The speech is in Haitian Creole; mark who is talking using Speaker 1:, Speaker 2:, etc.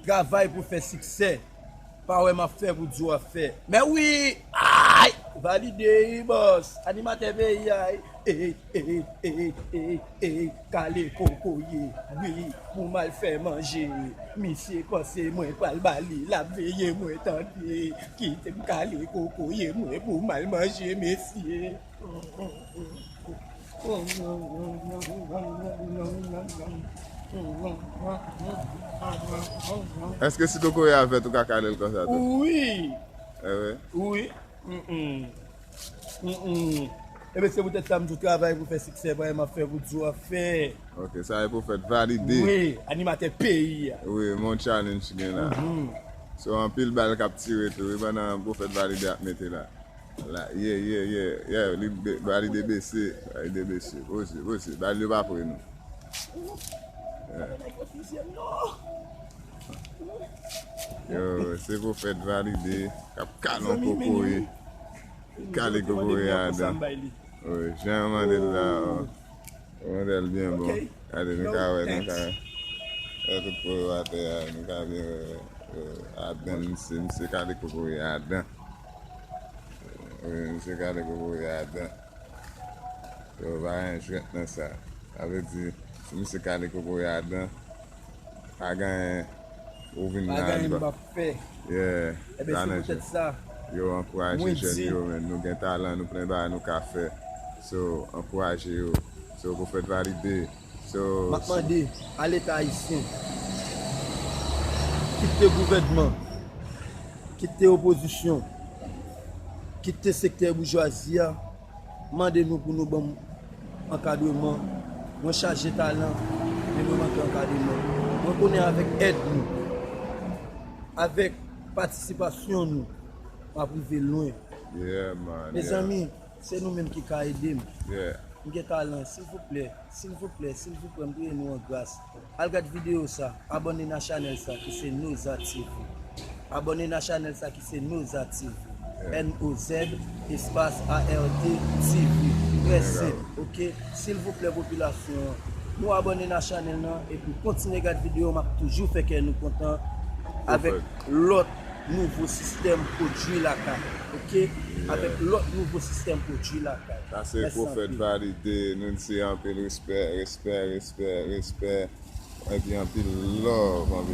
Speaker 1: Travay pou fè siksè. Pa wè map fè pou di wap fè. Mè wi aayy. Valide ui bòs. Animatè peyi a ui. Eyy eyy eyy eyy eyy kale kokoye ui pou mal fè manje misye panse mwen pral bali lap veye mwen tande kitem kale kokoye mwen pou mal manje mesye.
Speaker 2: Eske si kokoye a vèt ou ka kalel konsa tou? Wi!
Speaker 1: Ewe?
Speaker 2: Wi!
Speaker 1: Ebe se pou tèt sa m di w travay pou fè siksè pa e m ap fè pou di w ap fè. Ok, sa e pou
Speaker 2: fèt valide. Wi, animatè
Speaker 1: peyi a. Wi, men yon challenge
Speaker 2: ki gen la. Se yon anpil bal k ap tire tou wi pandan pou fèt valide ap mete la. La yeah yeah yeah yeah li ba li de bese ba li de bese poze poze ba li yo pa pre nou yo se pou fèt valide kap kalon kokoye kale kokoye adan oye jan mande la mande l byen bon ade nou ka wè nou ka wè tout pou yo ate ya nou ka byen wè adan mse mse kale kokoye adan Wi misye gade gwo bouyi a adan. Yo pa gen jwèt nan sa. Sa vle di si misye kale gwo bouyi a adan pa gen ou vin nan. Pa gen
Speaker 1: m pap fè. Yeah.
Speaker 2: Ebe se poutèt
Speaker 1: sa. Yo ankouraje
Speaker 2: jèn yo men nou gen talan nou plen bagay nou ka fè. So ankouraje yo. So pwofèt valide. Map mande a
Speaker 1: leta ayisyen, kit te gouvènman, kit te opozisyon, kit te sektè boujwazi a, mande nou pou nou banm ankadreman. Mwen chaje talan, men mwen manke ankadreman. Mwen konnen avèk èd nou, avèk patisipasyon nou, map rive lwen.
Speaker 2: Mezanmi!
Speaker 1: Se nou menm ki ka edem. M gen
Speaker 2: talan
Speaker 1: silvouplè silvouplè silvouplè m priye nou an gras al gad video sa abòne na chanèl sa ki se Noza TV abòne na chanèl sa ki se Noza TV N O Z espas A R D TV mèsi ok silvouplè popilasyon an nou abòne na chanèl nan epi kontinye gad video map toujou fè kè nou kontan avèk lòt. nouvo sistèm pwodwi lakay ok avèk lòt nouvo sistèm pwodwi lakay mèsi anpil. Sa se profèt
Speaker 2: valide nou di anpil respè respè respè respè epi anpil love anpil.